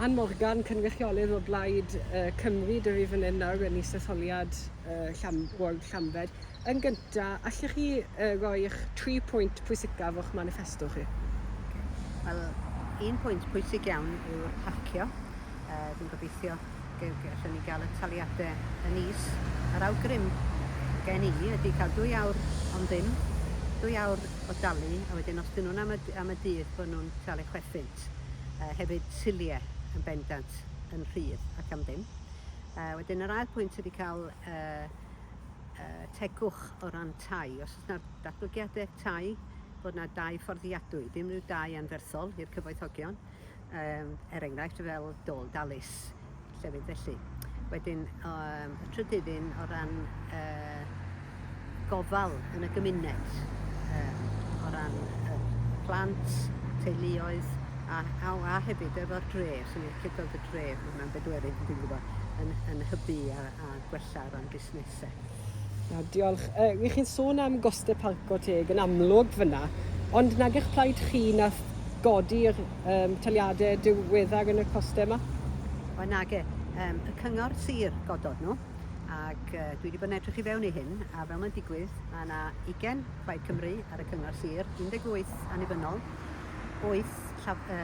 Ann Morgan, cynrychiolydd o Blaid uh, Cymru, dwi fi fan hyn nawr yn isetholiad uh, llam, Ward Llanfed. Yn gyntaf, allech chi uh, roi'ch tri pwynt pwysicaf o'ch manifesto chi? Wel, un pwynt pwysig iawn yw parcio. Uh, fi'n gobeithio allwn ni gael y taliadau yn is. Yr awgrym gen i ydy cael dwy awr ond ddim, dwy awr o dalu, a wedyn os dyn nhw'n am y, am y dydd, bod nhw'n talu chwerthin. at yy hefyd silie yn bendant yn rhydd ac am ddim. Yy wedyn yr ail pwynt ydy cael yy yy tegwch o ran tai. Os oes 'na datblygiade tai, bod 'na dai fforddiadwy, dim rhyw dai anferthol i'r cyfoethogion, yym er enghraifft fel Dôl Dalys. llefydd felly. Wedyn um, y trydydd un o ran uh, gofal yn y gymuned, um, o ran uh, plant, teuluoedd, a, a, a hefyd efo'r dre, sy'n ni'n licio gweld y dre, hwnna'n bedwerydd, yn, yn hybu a, a gwella ran busnesau. Na, diolch. Uh, wi chi'n sôn am goste parco teg yn amlwg fyna, ond nag eich plaid chi na godi'r um, taliadau diweddar yn y coste yma? Wel, nag e. Um, y cyngor sir godod nhw, ac uh, dwi wedi bod yn edrych i fewn i hyn, a fel mae'n digwydd, mae yna 20 Plaid Cymru ar y cyngor sir, 18 annibynnol, Oes llaw y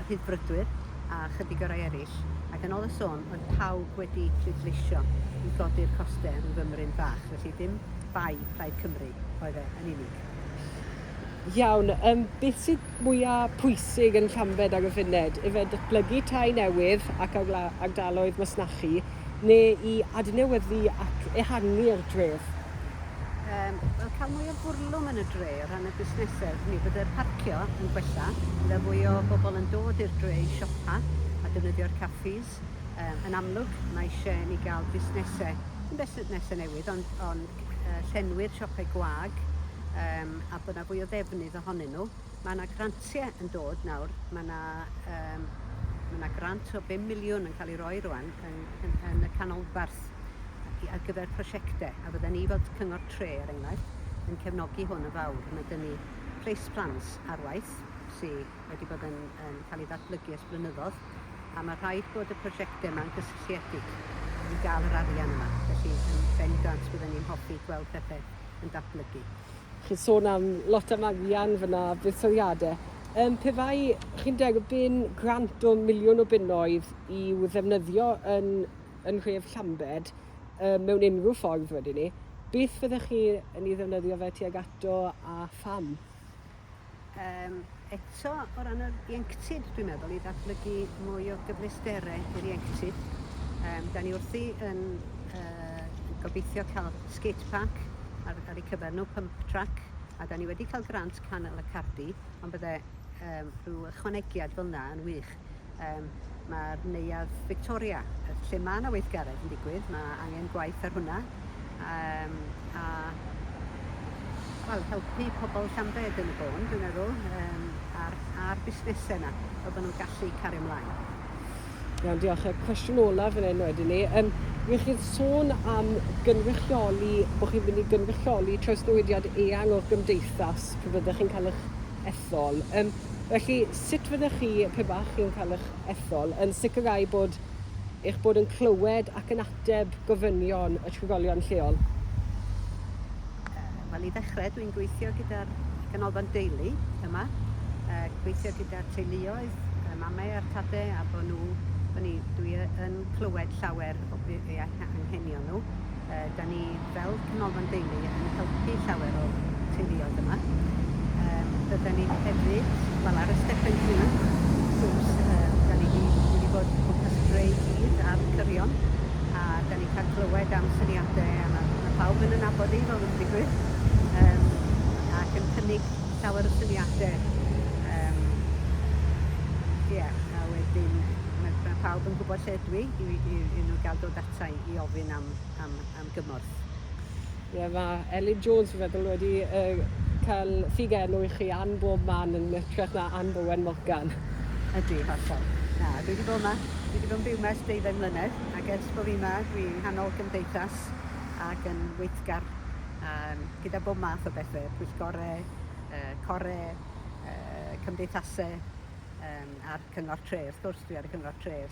Rhyddfrydwyr a chydig o rai eraill, ac yn ol y sôn oedd pawb wedi pleidleisio i godi'r coste rhyw fymryn bach, felly ddim bai Plaid Cymru oedd e yn unig. Iawn, yym beth sydd mwya pwysig yn Llambed ac y Fyned? Ife datblygu tai newydd ac agla- ardaloedd masnachu? neu i adnewyddu ac ehangu'r dref? Yym, wel, cael mwy o fwrlwm yn y dre o ran y busnesedd. Mi fydde'r parcio yn gwella, bydde fwy o bobl yn dod i'r dre i siopa a defnyddio'r caffis. Yym, yn amlwg, mae eisiau i ni gael busnesau, dim busnesau newydd, ond, ond yy, llenwi'r siopau gwag, yym, a bod 'na fwy o ddefnydd ohonyn nhw. Mae 'na grantiau yn dod nawr, mae 'na yym mae 'na grant o bum miliwn yn cael ei roi rŵan yn yn yn y canolbarth a- i ar gyfer prosiectau a fydden ni fel t- cyngor tre er enghraifft yn cefnogi hwn yn fawr. Mae 'da ni place plans ar waith sy wedi bod yn yn cael ei ddatblygu ers blynyddoedd a mae rhaid bod y prosiectau yma'n gysylltiedig i gael yr arian yma. Felly yn ben grant bydden ni'n hoffi gweld pethau yn datblygu. Chi'n sôn am lot am arian fyna, buddsoddiadau. Um, pe bai chi'n derbyn grant o miliwn o bunnoedd i'w ddefnyddio yn, yn nhref Llambed um, mewn unrhyw ffordd wedyn ni, beth fyddech chi yn ei ddefnyddio fe tuag ato a pham? Yym, eto, o ran yr ieuenctid, dwi'n meddwl, i ddatblygu mwy o gyfleustere i'r ieuenctid, yym, da ni wrthi yn yy gobeithio cael skate park ar ar eu cyfer nhw, pump track, a da ni wedi cael grant Canol y Cardi, ond bydde yym rhyw ychwanegiad fel 'na yn wych. Yym mae'r Neuadd Victoria, lle mae yna weithgaredd yn digwydd, mae angen gwaith ar hwnna. Um, a wel, helpu pobl Llambed yn y bôn, dwi'n meddwl, um, a'r, ar busnesau yna, fel bod nhw'n gallu cario ymlaen. Iawn, diolch. Y cwestiwn olaf yn enw wedyn ni. Um, Wych chi'n sôn am gynrychioli, bod chi'n mynd i gynrychioli trawsnewidiad eang o'r gymdeithas pe byddech chi'n cael eich ethol. Yym, felly, sut fyddech chi, pe bach chi'n cael eich ethol, yn sicrhau bod eich bod yn clywed ac yn ateb gofynion y trigolion lleol? Wel, i ddechrau, dwi'n gweithio gyda'r Canolfan Deulu yma, a gweithio gyda'r teuluoedd, y mamau a'r tadau, a bod nhw, bod ni, dwi yn clywed llawer o be, eu anghenion nhw. Da ni Fel Canolfan Deulu yn helpu llawer o teuluoedd yma. Yym rydan ni hefyd, wel ar y Stephen Hugh cruise yym 'dan ni 'di ni 'di bod o gwmpas Dre Dydd a'r cyrion a 'dan ni'n cael clywed am syniade a ma' ma' pawb yn 'yn nabod i fel mae'n digwydd yym ac yn cynnig llawer o syniade yym ie a wedyn ma' ma' pawb yn gwbod lle ydw i i i i nw ga'l dod ata i i ofyn am am am gymorth. Ie ma' Elin Jones fi'n feddwl wedi yy ca'l ffug enw i chi an bob man yn ytrach na Anne Bowen Morgan. Ydi hollol. Na dwi 'di bod 'ma dwi 'di bod yn byw 'ma ers deuddeng mlynedd ac ers bo' fi 'ma dwi yng nghanol cymdeithas ac yn weithgar yym gyda bob math o bethe, pwyllgore, yy core, yy cymdeithase yym a'r cyngor tre wrth gwrs dwi ar y cyngor tre